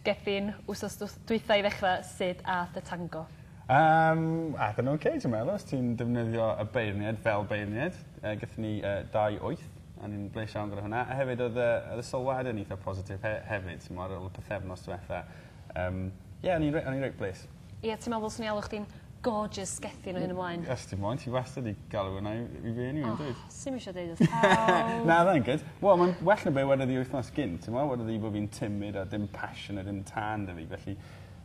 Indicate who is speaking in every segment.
Speaker 1: Gethin wsos dw- dwytha i ddechra sud a'th dy tango? Yym
Speaker 2: a'th yn oce dwi meddwl os ti'n defnyddio y beirniaid fel beirniaid yy gethon ni yy dau wyth a o'n i'n blesh iawn gyda hwnna a hefyd odd y odd y sylwade yn itha positif he- hefyd t'mo' ar ôl y pythefnos dwetha yym ie o'n i'n re- o'n i'n reit blesh. Ie ti me'wl ddylswn i alw
Speaker 1: chdi'n gorgeous gethin o hyn ymlaen? Os ti moyn ti wastad
Speaker 2: i galw wnna i i fi eniwe yndwyt? O sim isio deud wrth
Speaker 1: pawb. Na fyddai'n good. Wel
Speaker 2: ma'n well na be' wedodd 'i wythnos gynt t'mo' wedodd 'i bo' fi'n timid a dim passion a dim tân 'da fi felly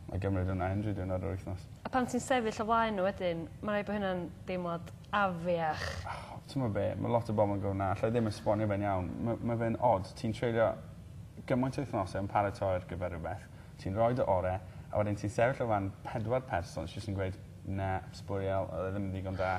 Speaker 2: 'nai gymryd wnna unryw diwrnod o'r wythnos. A pan ti'n sefyll o
Speaker 1: flaen n'w wedyn ma' raid bo' hynna'n deimlad afiach. O t'mo' be'
Speaker 2: ma' lot o bobol yn gweud 'na allai ddim esbonio fe'n iawn ma' ma' fe'n od ti'n treulio gymaint o wythnose yn paratoi ar gyfer rwbeth Ti'n rhoi dy ore' a wedyn ti'n sefyll o flan pedwar person sy jyst yn gweud na sbwriel odd e ddim yn ddigon da.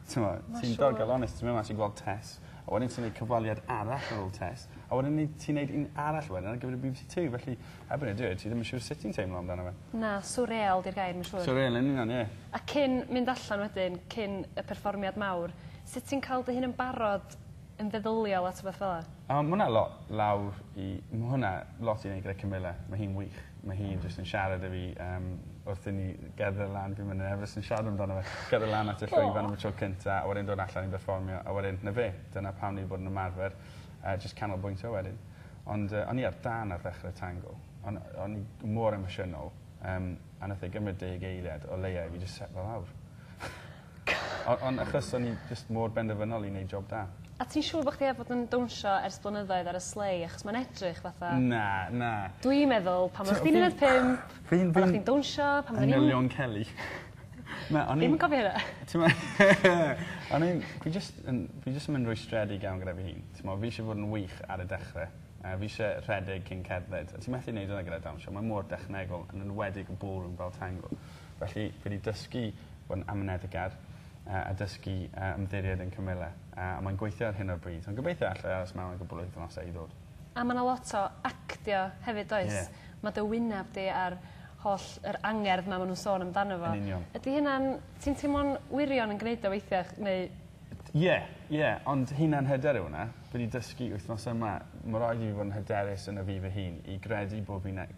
Speaker 2: T'mo'? Ma' siŵr. Ti'n digon onest ti myn' mas i gweld Tess a wedyn ti neud cyfweliad arall ar ol Tess a wedyn ni ti'n neud un arall wedyn ar gyfer y Bee Bee See Two felly erbyn y diwedd ti ddim yn siŵr sut ti'n teimlo amdano fe. Na swreal 'di'r
Speaker 1: gair ma' siŵr. Swreal yn union ie.
Speaker 2: A cyn mynd
Speaker 1: allan wedyn cyn y perfformiad mawr sut ti'n ca'l dy hun yn barod yn feddyliol at rwbeth fel 'a. A ma' wnna lot
Speaker 2: lawr i ma' hwnna lot i neud gyda Camilla. Ma' hi'n wych. Ma' hi jyst yn siarad 'da fi yym wrth i ni gerdded lan fi'n myn' yn nerfus yn siarad amdano fe. Gerdded lan at y llwyfan am y tro cynta a wedyn dod allan i berfformio a wedyn 'na fe. Dyna pam ni 'di bod yn ymarfer a jyst canolbwyntio wedyn. Ond yy o'n i ar dân ar ddechre Tango. O'n yy o'n i g- mor emosiynol yym a nath e gymryd deg eiliad o leia i fi jys setlo lawr. O- ond achos o'n i jyst mor benderfynol i neud job da. A ti'n siŵr bo' chdi 'eb
Speaker 1: fod yn dawnsio ers blynyddoedd ar y sleigh achos ma'n edrych fatha... Na na.
Speaker 2: ...dwi meddwl
Speaker 1: pan oddach chdi'n un deg pump... Fi'n fi'n... ...oddach chdi'n dawnsio pan oddwn i'n... ...manylion Kelly.
Speaker 2: Na o'n
Speaker 1: i... Fi'm yn cofio hynna. T'mo' o'n i'n fi jyst
Speaker 2: yn fi jyst yn mynd yn rwystredig iawn gyda fy hun. T'mo' fi isie fod yn wych ar y dechre a fi isie rhedeg cyn cerdded a ti methu neud wnna gyda dawnsio mae mor dechnegol yn enwedig y ballroom fel tango felly fi 'di dysgu bod yn amyneddgar yy a dysgu yy ymddiried yn cymyle a a mae'n gweithio ar hyn o'r bryd ond gobeithio allai aros mewn i gwpwl o wythnose i ddod. A ma' 'na lot o
Speaker 1: actio hefyd does? Ie. Ma' dy wynab di a'r holl yr angerdd 'ma ma' nw'n sôn amdano fo. Yn union. Ydi hynna'n
Speaker 2: ti'n
Speaker 1: teimlo'n wirion yn gneud o weithia' ch- neu... Ie
Speaker 2: ie ond hunan hyder yw wnna. Dwi 'di dysgu wythnos yma ma' raid i fi fod yn hyderus yno fi fy hun i gredu bo' fi'n ne-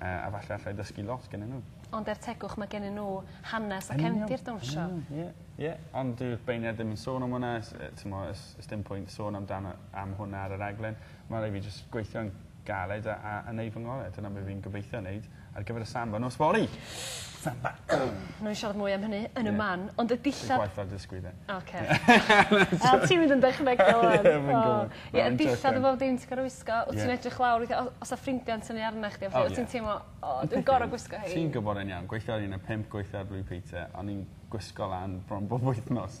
Speaker 2: A a falle allai dysgu lot gennyn n'w. Ond er tegwch ma'
Speaker 1: gennyn n'w hanes a cefndir dawnsio. Yn union. Ie. Ie.
Speaker 2: Ond dyw'r beirniad ddim yn sôn am wnna s- yy t'mo' o's o's dim pwynt sôn amdano am hwnna ar y raglen. Ma' rai' fi jys gweithio'n galed a a a neu' fy ngore'. Dyna be' fi'n gobeithio neud ar gyfer y samba nos fory! Fel 'na. Newn ni siarad
Speaker 1: mwy am hynny yn y man. Ie. Ond y dillad... Lle gwaetha'r dysgwr 'de?
Speaker 2: Oce. Wel
Speaker 1: ti'n mynd yn dechnegol ŵan. Ie fi'n gwbod. Ie y dillad a bob dim ti gor'o' wisgo. Ie. Wt ti'n edrych lawr weithia' o- os 'a ffrindia'n tynnu arnach chdi a petha... O ie. ...wt ti'n teimlo o dwi'n gor'o' gwisgo 'hein. Ti'n gwbod e'n iawn gweithio ar
Speaker 2: un o' pump gweithio ar Blue Peter o'n i'n gwisgo lan bron bob wythnos.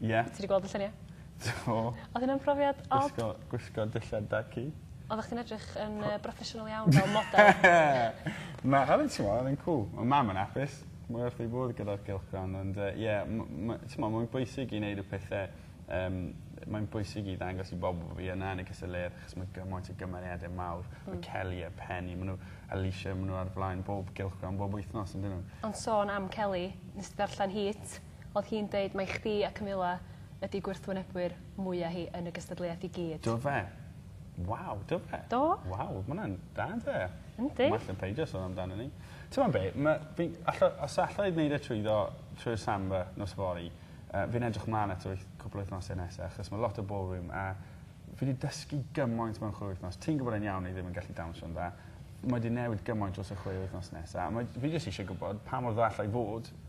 Speaker 1: Ie. Ti 'di
Speaker 2: gweld y llunie?
Speaker 1: Do. Odd e'n brofiad od. Gwisgo gwisgo dillad da
Speaker 2: ci. Oddach chdi'n edrych
Speaker 1: yn yy broffesiynol iawn fel model. Na odd e'n
Speaker 2: t'mo' odd e'n cŵl. Ma' mam yn apus. Mae wrth ei fodd gyda'r gylchgrawn ond yy ie m- ma' t'mo' mae'n bwysig i neud y pethe yym yy mae'n bwysig i ddangos i bobol bo' fi yna yn y cystadleuaeth achos ma' gymaint o gymeriade mawr. Hmm. Ma' Kelly a Penny ma' n'w Alishia ma' n'w ar flaen bob gylchgrawn bob wythnos on'd 'yn n'w? Ond sôn am Kelly
Speaker 1: nes di ddarllen hi 't? Odd hi'n deud mai chdi a Camilla ydi gwrthwynebwyr mwya hi yn y gystadleuaeth i gyd. Do fe?
Speaker 2: Waw do fe? Do. Waw ma' wnna'n da on'd yw e? Yndi. Well na peidio
Speaker 1: son
Speaker 2: amdano 'ny. T'mod be' ma' fi'n allo- os alla i neud e trwyddo trwy'r Samba nos fory yy fi'n edrych mlan at y wyth- cwpwl o wythnose nesa achos ma' lot o ballroom a fi 'di dysgu gymaint mewn chwe wythnos. Ti'n gwbod e'n iawn 'yf fi ddim yn gallu dawnsio'n dda. Mae 'di newid gymaint dros y chwe wythnos nesa a mae fi jyst isie gwbod pa mor dda alla i fod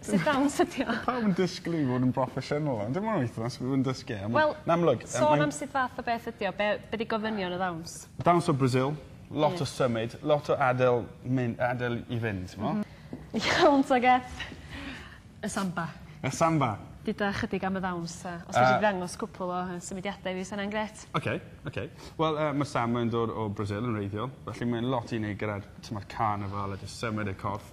Speaker 1: Sit downs ydi o. Ma' pawb yn disgwl i fi fod yn
Speaker 2: broffesiynol ond dim ond wythnos fi fod yn dysgu e a ma'... Wel... ...yn amlwg yym
Speaker 1: mae'n... ...sôn am sut fath o beth ydi o be' be' 'di gofynion y ddawns? Dawns o Brasil
Speaker 2: lot o symud lot o adel myn- adel i fynd t'mo'? M-hm. Iawn ta
Speaker 1: Geth. Y samba. Y samba.
Speaker 2: Duda ychydig am y
Speaker 1: ddawns a os fedri di ddangos cwpwl o yy symudiada i fi sa wnna'n grêt. Oce oce.
Speaker 2: Wel yy ma' samba yn dod o Brasil yn wreiddiol felly mae'n lot i neud gyda'r t'mod carnifal a jys symud y corff.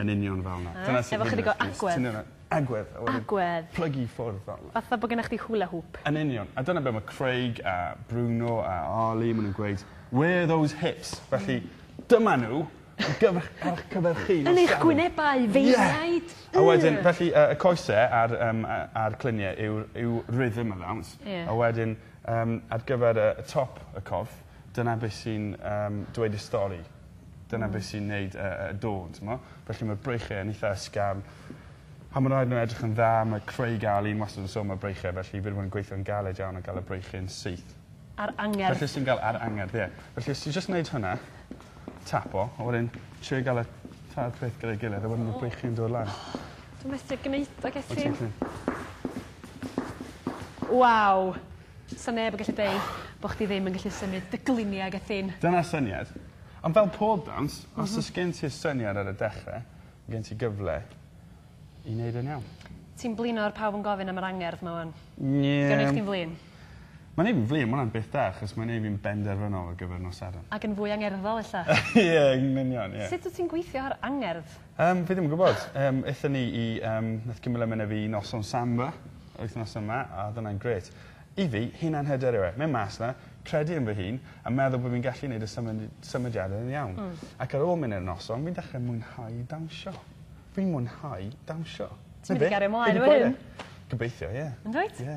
Speaker 2: Yn union fel 'na. Dyna sut... Efo chydig o agwedd. ...ti'n
Speaker 1: neud e. Agwedd a wedyn...
Speaker 2: Agwedd. ...plygu
Speaker 1: i ffwrdd fel 'na.
Speaker 2: Fatha bo' gennoch chdi hula hoop.
Speaker 1: Yn union. A dyna be' ma'
Speaker 2: Craig a Bruno a Arley ma' nw'n gweud where are those hips felly dyma n'w ar gyfer 'ych ar 'ych cyfer chi nos Sadwrn. Yn eich gwynebau
Speaker 1: feirniaid. Ie! A wedyn felly
Speaker 2: yy y coese a'r yym a- a'r clunie yw'r yw rhythm allowance. Ie. A wedyn yym ar gyfer y y top y corff Dyna beth sy'n yym dweud y stori. Dyna... Hmm. ...beth sy'n neud y y y dôn t'mo'? Felly ma'r breichie yn itha ysgafn a ma' raid n'w edrych yn dda ma' craig ali yn wastad yn sôn am y breichie felly fi 'di bod yn gweithio'n galed iawn ar ga'l y breichie'n syth. Ar angerdd. Felly
Speaker 1: os ti'n ga'l ar angerdd
Speaker 2: ie. Felly os ti jyst neud hwnna. Tapo a wedyn trio ga'l y tair peth gyda'i gilydd a wedyn ma'r breichie'n dod lan. Dwi methu
Speaker 1: gneud o Gethin. O't ti'n gallu? Waw. 'Sa neb yn gallu deud bo' chdi ddim yn gallu symud dy glinie ag y ffin. Dyna'r syniad.
Speaker 2: Ond fel pob dawns os o's gen ti'r syniad ar y dechre ma' gen ti gyfle i neud e'n iawn. Ti'n blino ar pawb
Speaker 1: yn gofyn am yr angerdd 'ma ŵan. Ie. 'Di o'n neu' chdi'n
Speaker 2: flin?
Speaker 1: Ma'n neu' fi'n flin
Speaker 2: ma' wnna'n beth da achos mae'n neu' fi'n benderfynol ar gyfer nos Sadwrn. Ac yn fwy angerddol ella.
Speaker 1: Ie yn union
Speaker 2: ie. Sut wt ti'n gweithio ar
Speaker 1: angerdd? Yym fi ddim yn gwbod.
Speaker 2: Yym ethon ni i yym nath Camilla myn' â fi i noson samba wythnos yma a odd wnna'n grêt. I fi hunan hyder yw e. Myn' mas 'na credu yn fy hun a meddwl bo' fi'n gallu neud y symud- symudiada yn iawn. Hmm. Ac ar ôl myn' i'r noson fi'n dechre mwynhau dawnsio. Fi'n mwynhau dawnsio. Ti'n mynd i gario mlaen
Speaker 1: efo hyn. Gobeithio ie.
Speaker 2: Yndwyt? Ie.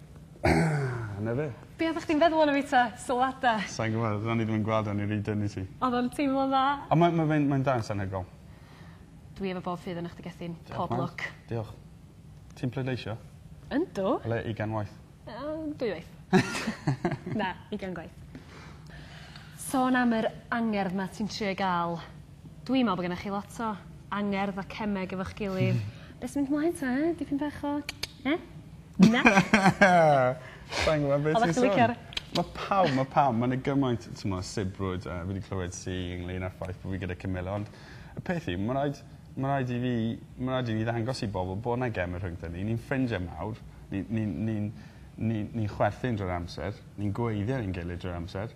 Speaker 2: Na fe. Be' oddach chdi'n feddwl ono fi
Speaker 1: 'ta? Sylwada? Sai'n gwbod o'n i ddim
Speaker 2: yn gweld o o'n i rhy dynn i ti. Odd o'n teimlo'n dda.
Speaker 1: On' mae ma' fe'n mae'n
Speaker 2: dangos anhygoel. Dwi
Speaker 1: efo bob ffydd arnoch chdi Gethin. Pob lwc. Diolch.
Speaker 2: Ti'n pleidleisio? Yndw. O
Speaker 1: leia' ugain waith.
Speaker 2: Yym dwywaith.
Speaker 1: Na ugain gwaith. Sôn am yr angerdd 'ma ti'n trio'i ga'l Dwi me'wl bo' gennych chi lot o angerdd a cemeg efo'ch gilydd. Be' sy mynd mlaen 'ta yy dipyn bach o yy? Na?
Speaker 2: Sai'n gwbo be' ti sôn. licio'r... Ma'
Speaker 1: pawb ma'
Speaker 2: pawb ma' 'na gymaint t'mo' o sibrwd yy fi 'di clywed sy ynglŷn â'r ffaith bo' fi gyda Camilla ond y peth yw ma' raid ma' raid i fi ma' raid i fi ddangos i bobol bo' 'na geme rhyngdon ni ni'n ffrindie mawr ni ni'n ni'n ni ni'n chwerthin drwy'r amser ni'n gweiddi ar ein gilydd drwy'r amser